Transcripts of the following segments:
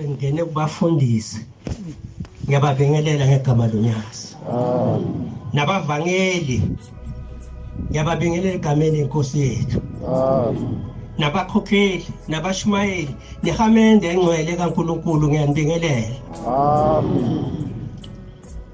Ngene kubafundisi ngiyababingelela ngegama loNyazi. Nabavangeli ngiyababingelela egameni lenkosi yethu. Nabakhokheli, nabashumayeli, nehamende engcwele kaNkuluNkulu ngiyanibingelela. Amen.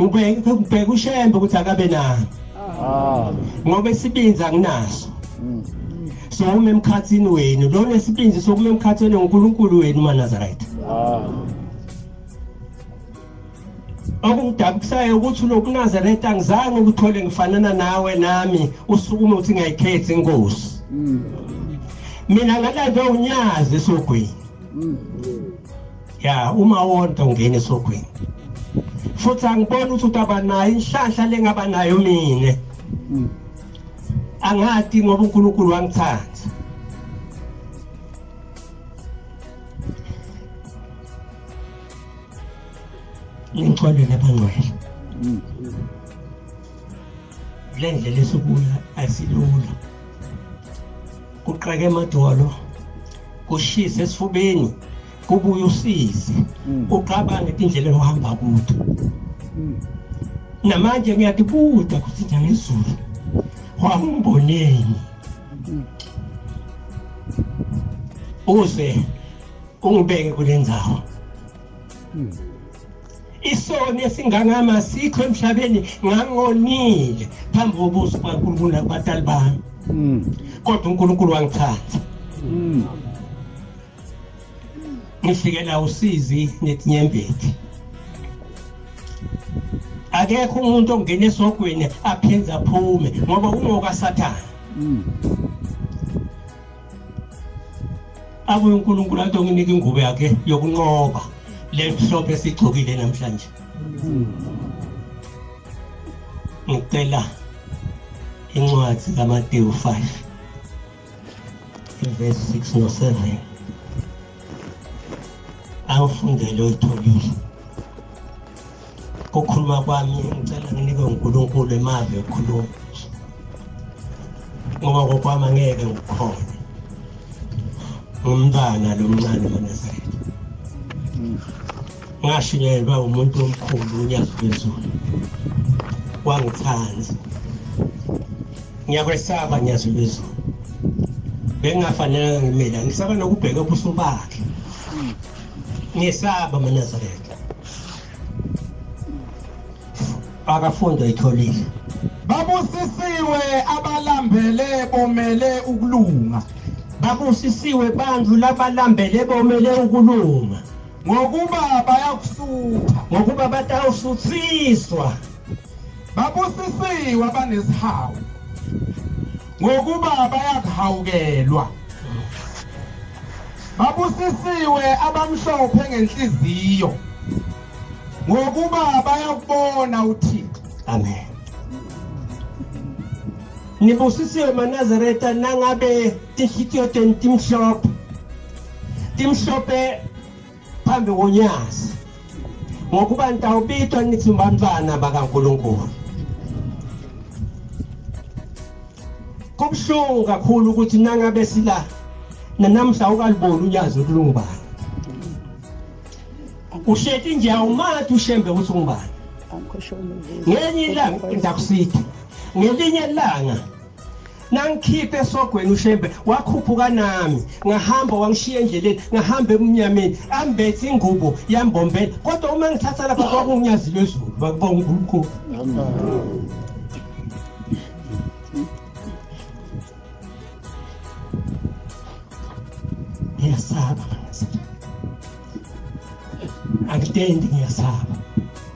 ngibheka ushembe ukuthi akabe nani ah. ngoba isibinzi anginaso mm. sokuma emkhathini wenu lo nesibinzi sokuma emkhathini ngonkulunkulu wenu manazarayitha ah. okungidabukisayo ukuthi ulokunazareta angizange ukuthole ngifanana nawe nami usukume ukuthi ngayikhethi inkosi mm. mina ngalave unyazi esogwini mm. ya uma wonke ungena esogwini futhi angiboni ukuthi utaba nayo inhlanhla lengaba nayo mina hmm. angati ngoba uNkulunkulu wangithanda ngixolele abangcwele hmm. le ndlela esukuya asilula kuqake emadolo kushise esifubeni kubuye usize mm. uqabane indlela ohamba kude mm. namanje ngiyatibuda ukuthi njengezulu wawumboneni mm. uze ungibeke kule ndawo isoni esingangama sikho emhlabeni ngangonile phambi kobuso kwankulunkulu nakubatali bami kodwa unkulunkulu wangithatha ngifikela usizi netinyembeti akekho umuntu ongena esogweni aphinde aphume ngoba ungoka sathane mm. abuye uNkulunkulu athi onginike ingubo yakhe yokunqoba lemhlophe esigcokile namhlanje mm. ngicela incwadi kaMateyu 5 ivesi 6 no-7 angifundele oyitholile kukhuluma kwami ngicela nginikwe unkulunkulu emali yokukhuluma ngoba kokwami angeke ngikhone ngumntana lo mncane manazareth ngashunyelelwa umuntu omkhulu unyazi lwezulu wangithanda ngiyakwesaba nyazi lwezulu bengingafanelanga ngimela ngisaba nokubheka ubuso bakhe ngisaba manazaretha akafundo itholile babusisiwe abalambele bomele ukulunga babusisiwe bantu labalambele bomele ukulunga ngokuba bayakusutha ngokuba batawusuthiswa babusisiwe abanesihawu ngokuba bayakuhawukelwa babusisiwe abamhlophe ngenhliziyo ngokuba bayakubona uthixo amen nibusisiwe manazareta nangabe tinhliziyo tenu timhlophe timhlophe phambi konyazi ngokuba nitawubitwa nithi bantwana bakaNkulunkulu kubuhlungu kakhulu ukuthi nangabe sila nanamhla ukaliboni unyazi ukuthi lungubani uhleti nje awumathi ushembe ukuthi ungubani ngenye ilanga ndakusitha ngelinye ilanga nangikhiphe esogweni ushembe wakhuphuka nami ngahamba wangishiya endleleni ngahamba ebumnyameni ambethe ingubo yambombela kodwa uma ngithatha lapha kwakunyazi lwezulu bakubonga unkulunkulu ngiyasaba angitendi ngiyasaba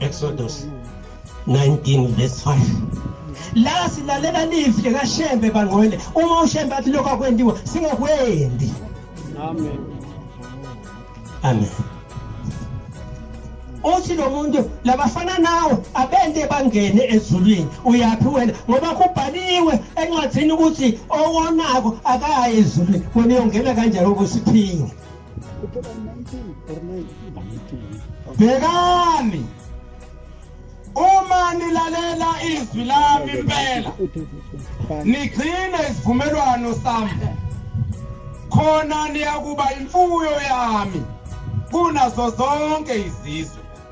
Exodus 19 verse 5 la silalela lizwi likaShembe bangcwele uma uShembe athi lokho akwendiwe singakwendi amen amen uthi lo muntu labafana nawe abente bangene ezulwini uyaphi wena ngoba kubhaliwe encwadini ukuthi owonako akayi ezulwini wena uyongena kanjani ukusiphinga bhekani uma nilalela izwi lami impela nigcine isivumelwano sami khona niyakuba imfuyo yami kunazo zonke izizwe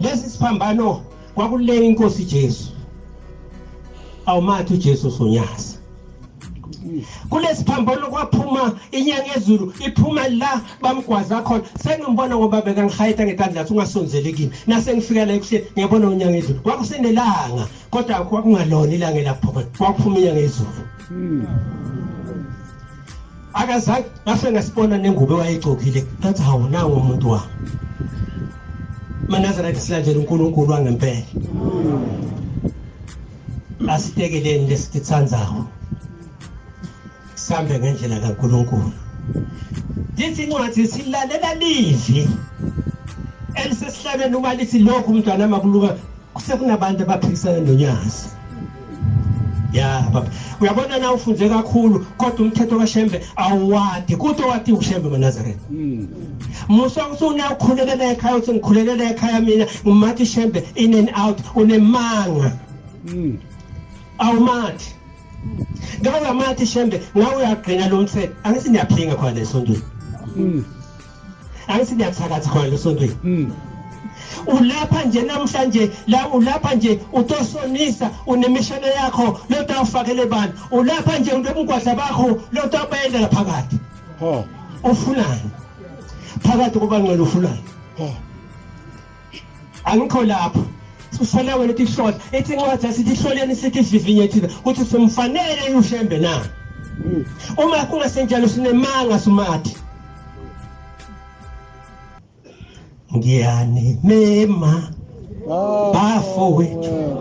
lesi siphambano kwakuleya inkosi Jesu awumathi uJesu sonyaza kulesiphambano kwaphuma inyanga ezulu iphuma la bamgwaza khona sengimbona ngoba bekangihayita ngetandla athi ungasonzeli kimi nasengifika la ekuseni ngiyabona unyanga ezulu kwakusenelanga kodwa kwakungalona ilanga elaphuma kwakuphuma inyanga ezulu hmm. akazange ngase ngasibona nengubo wayegcokile ngathi hawu nango umuntu wami manazareth silandela unkulunkulu wangempela asitekeleni lesikithandawo sihambe ngendlela kankulunkulu lithi incwadi silalela livi elisesihlabeni uma lithi lokhu mntwana makuluka Kusekunabantu abaphikisana nonyazi ya baba uyabona na ufunde kakhulu kodwa umthetho kaShembe awuwadi kuthi wati uShembe maNazareth hmm. musa usuna ukhulelela ekhaya uthi ngikhulelela ekhaya mina ngimathi Shembe in and out unemanga hmm. awumathi ngawe amathi Shembe ngawe uyagcina lo mthetho angithi niyaphinga khona esontweni hmm. angithi niyathakatha khona lesontweni mm. ulapha nje namhlanje la ulapha nje utosonisa unemishana yakho lento awufakele bani ulapha nje unobungwadla bakho lento abayendela phakathi ho ufunani phakathi kuba ngcela ufunani ho angikho lapho usele wena ukuthi hlola ethi incwadi asithi ihloleni sithi ivivinye thina ukuthi simfanele ushembe na hmm. uma kungasenjalo sinemanga sumathi ngiyanimema bafowethu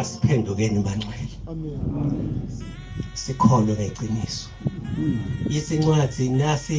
asiphendukeni bangcwele sikholwe ngeqiniso isincwadi nasi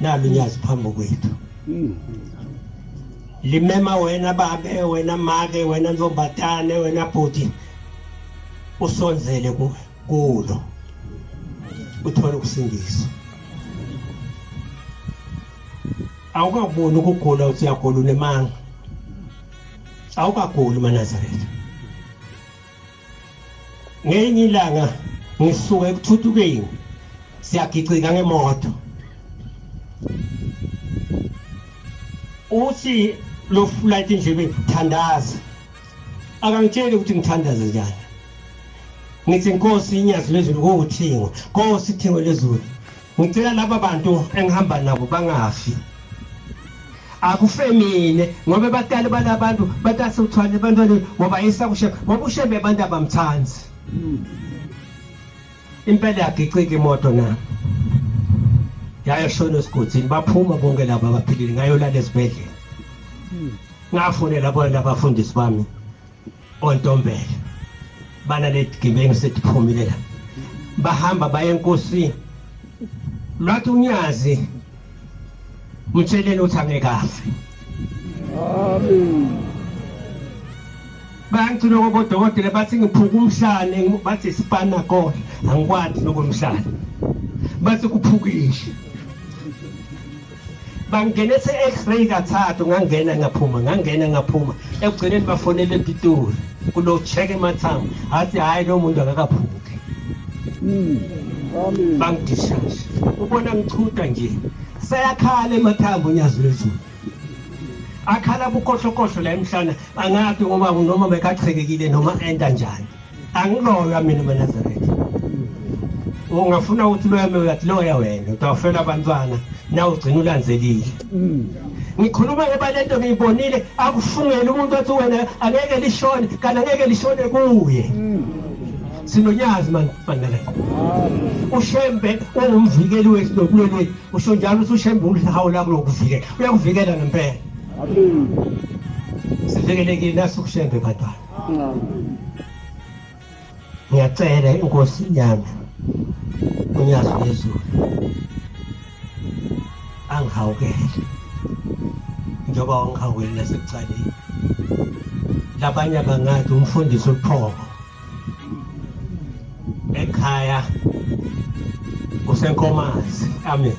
nami nyazi phambi kwethu hmm. limema wena babe wena make wena ntombazane wena bhuti usonzele kulo uthole ukusindiswa awukakuboni ukugula uthi uyagula unemanga awukaguli manazaretha ngenye ilanga ngisuka ekuthuthukeni siyagicika ngemoto uthi lo flight indlebe thandaza akangitsheli ukuthi ngithandaze njani ngithi nkosi inyazi lezulu kuwuthingo nkosi ithingo lezulu Ngicela laba bantu engihamba nabo bangafi. Akufemine ngoba batali balabantu batase uthwale abantwana ngoba isakushe ngoba ushebe abantu abamthandi. Impela yagicika imoto na. Yayoshona esiguthini baphuma bonke laba abaphilile ngayolala esibhedlela. Ngafonela bona abafundisi bami. ontombela bana letigebengu setiphumile la bahamba baye enkosini lwathi unyazi mtsheleni ukuthi angeke afe amen bayangicina ngoba odokotela bathi ngiphuka umhlane bathi sipana kona angikwadi nokomhlane bathi kuphukile bangene se-x-ray kathathu ngangena ngaphuma ngangena ngaphuma ekugcineni bafonele epitoli kulo check emathambo athi hhayi lo muntu akakaphuki hmm, bangidishashe ubona ngichutha nje sayakhala emathambo unyazi lwezulu akhala bukhohlokhohlo la emhlana angazi ngoba noma bekachekekile noma enta njani angiloywa mina maNazaretha ungafuna ukuthi loyame uyathi loya wena utawufela abantwana na ugcina ulanzelile mm. ngikhuluma ngoba lento ngiyibonile akufungele umuntu athi wena angeke lishone kanti angeke lishone kuye mm. sinonyazi manifana ushembe ungumvikeli wethu nokulweni wethu usho njalo ukuthi ushembe ulihawu lakho lokuvikela uyakuvikela ngempela sivikelekile nasukushembe bantwana ngiyacela inkosi yami unyazi lwezulu angihawukele njengoba wangihawukele nasekucaleni labanye abangathi umfundisi uphoko ekhaya usenkomazi amen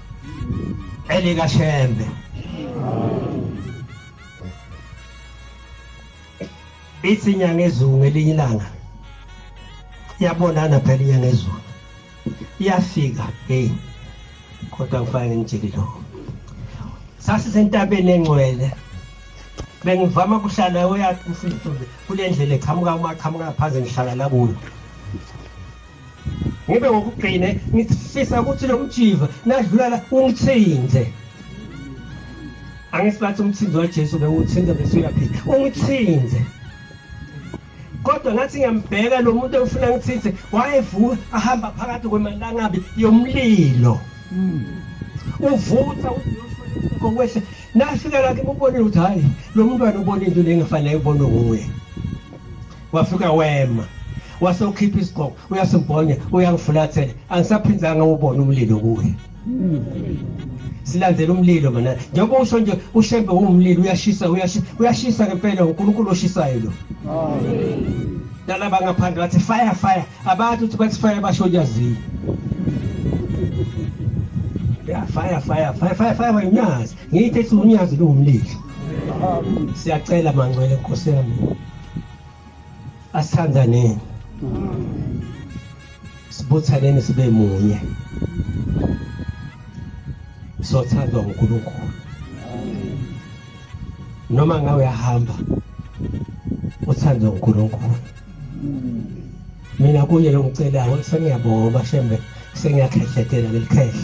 elikashembe ithi inyanga ezulu ngelinye ilanga yabonana phela inyanga ezulu iyafika hey kodwa ngifake ngimjiki lo sasisentabeni engcwele bengivama kuhlala oyathi kule ndlela eqhamuka uma qhamuka phansi ngihlala la kuyo ngibe ngokugcine ngifisa ukuthi lo mjiva nadlulala ungithinte angisibathi umthinzi wajesu bewuthinte bese uyaphila ungithinte kodwa ngathi ngiyambheka lo muntu ewufuna ngithithe wayevuka ahamba phakathi kwemalangabi yomlilo uvutha kokwehla nafika lakhe ubonile ukuthi hhayi lo mntwana ubona into le engafanele ubonwe nguye wafika wema wase ukhipha isigqoko uyasibhonya uyangifulathela angisaphindanga ubona umlilo kuye silandela umlilo mana njengoba usho nje ushembe wumlilo uyashisa uyashisa uyashisa ngempela uNkulunkulu oshisayo lo nalaba ngaphandle bathi fire fire abantu uthi bathi fire basho nyaziyo ya fire fire fire fire fire wenyazi ngiyithe ukuthi unyazi lungumlilo siyacela mangcwele nkosi yami asithandaneni sibuthaneni sibe munye sothandwa nguNkulunkulu noma ngawe uyahamba uthandwa nguNkulunkulu mina kuye longicelayo sengiyabonga shembe sengiyakhehletela lelikhehla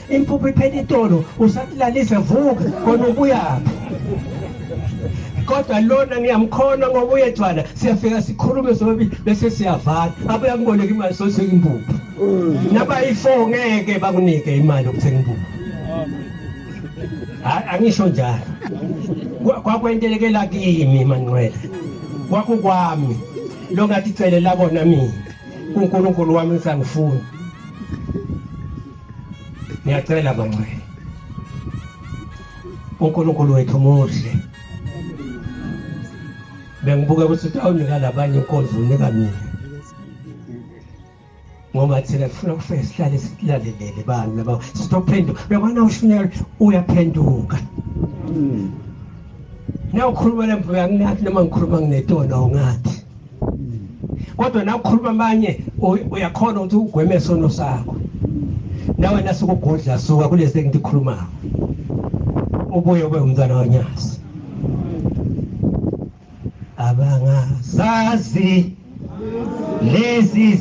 impuphu iphela itolo usakulalise vuka khona ubuyaphi kodwa lona ngiyamkhona ngoba uyejwala siyafika sikhulume sobabili bese siyavala abuya kuboleka imali sothenga impuphu nabayi-four ngeke bakunike imali yokuthenga impuphu angisho njalo kwakwentelekela kimi manqwela kwakukwami lo ngathi celela kona mina unkulunkulu wami ngisangifuni Ngiyacela bangcwele. UNkulunkulu wethu muhle. Bengibuke ukuthi utawunika labanye inkonzo unika mina. Ngoba thina sifuna ukufika sihlale silalelele bani laba sitophenduka. Bekwana ushunyela uyaphenduka. Hmm. Nawukhuluma lemvuka nginathi noma ngikhuluma nginetona ungathi. kodwa nawe ukhuluma amanye uyakhona ukuthi ugweme sono sakho nawe nasukugodla suka kulesi engikhulumayo ubuye ube umntwana wanyasi abangazazi lezi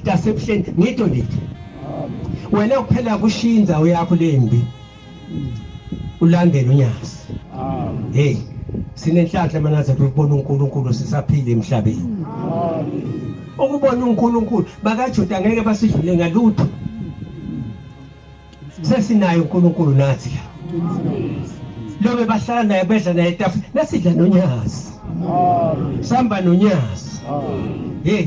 mntasebuhleni ngito lithi wena kuphela kushiya indzawo yakho lembi ulandele unyazi hey sinenhlanhla manaze kubona uNkulunkulu sisaphila emhlabeni ukubona uNkulunkulu bakaJuda ngeke basidlule ngalutho sesinayo uNkulunkulu nathi la lo bebahlala naye bedla naye etafula nasidla nonyazi sihamba nonyazi hey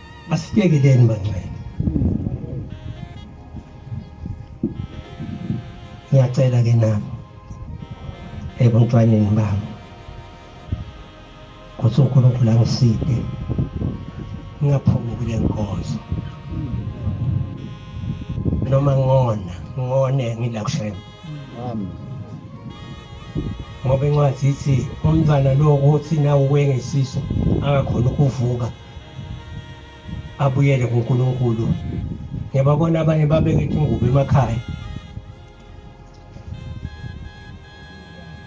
Asiyekeleni mangcwele. Ngiyacela ke nami ebuntwaneni bami ukuthi uNkulunkulu angiside ngingaphumi kule nkonzo noma ngona ngone ngila kushema ngoba incwadi ithi umntwana lo ukuthi nawe wengesiso angakhona ukuvuka abuyele kuNkulunkulu ngiyababona abanye babeke ingubo emakhaya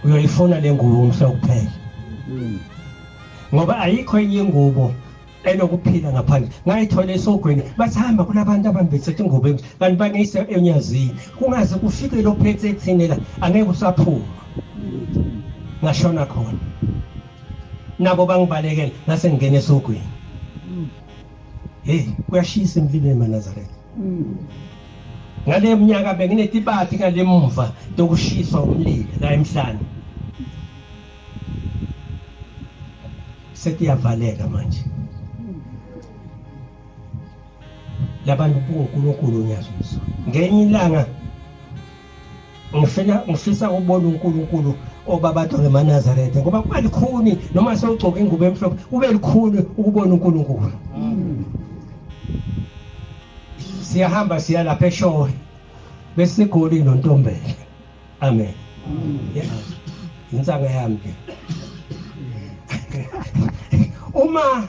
uyoyifuna le ngubo umhla kuphela hmm. ngoba ayikho enye ingubo enokuphila ngaphandle ngayithola esogweni bathi hamba kunabantu abambethethe ingubo emhle kanti baneyise enyazini kungaze kufike lophethe ethini la angeke usaphuma hmm. ngashona khona nabo bangibalekela ngase ngingena esogwini hey kuyashisa emlilweni manazaretha ngale mnyaka benginetibati ngale mumva tokushiswa umlilo la emhlane sekuyavaleka manje labantu kunkulunkulu ngiyazwiswa ngenye ilanga ngifuna ngifisa ukubona uNkulunkulu obabato ngemanazaretha ngoba kuba likhuni noma sewugcoka ingubo emhlophe kube likhuni ukubona uNkulunkulu siyahamba siya lapha eshowe besigoli nontombele amen insaka yami uma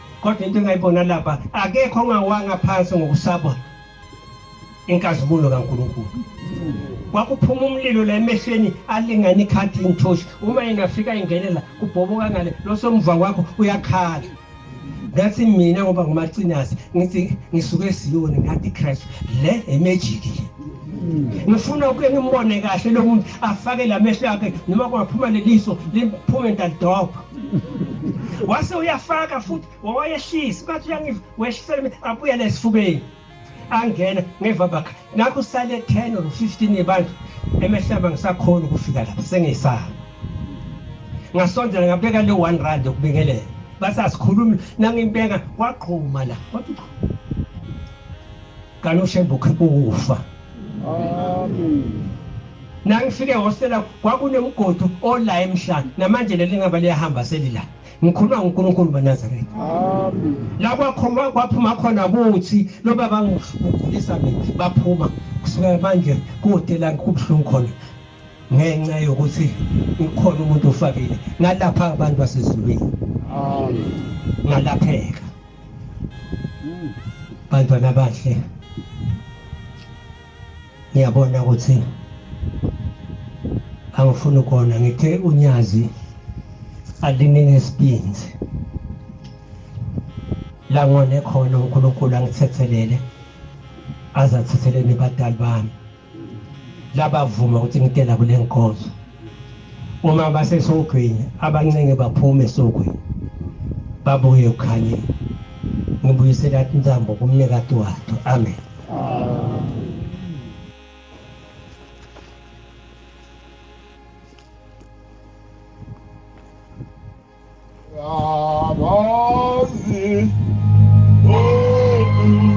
kodwa into engayibona lapha akekho ongawanga phansi ngokusaba inkazimulo kaNkulunkulu kwakuphuma umlilo la emehlweni alingana ikhadi inthoshi uma yena afika ingenela kubhoboka ngale losomva kwakho uyakhala ngathi mina ngoba ngumacinasi ngithi ngisuke esiyoni ngathi Christ le emejiki le ngifuna ukuke ngimbone kahle lo muntu afake la mehlo akhe noma kungaphuma leliso liphume ndadobha wase uyafaka futhi wawayehlisi bathi uyangiva wehlisela mina abuyele esifubeni angena ngeva bakha nakho sale 10 or 15 yebantu emehlaba ngisakhona ukufika lapha sengisala ngasondela ngabeka le 1 rand yokubingelela basasikhulumi nangimbeka wagquma la wathi Galo Shembe ukhipha ukufa. Amen. Nangifike hostela kwakunemgodi ola emhlanje namanje leli ngaba liyahamba selila. Ngikhuluma ngoNkulunkulu maNazaretha. Amen. La kwakhoma kwaphuma khona kuthi lo baba ngigulisa mina baphuma kusuka manje kuhotela kubhlungu khona. ngenxa yokuthi ukhona umuntu ofakile ngalapha abantu basezulwini ngalapheka bantwana abahle ngiyabona ukuthi angifuni ukona ngithe unyazi aliningi esibinzi la ngone khona uNkulunkulu angithethelele azathethelele nabadali bami labavuma ukuthi ngidela kule nkonzo uma basesogwini abancenge baphume esogwini babuye ekukhanyeni ngibuyisela intambo kumnikati wato amen Amen.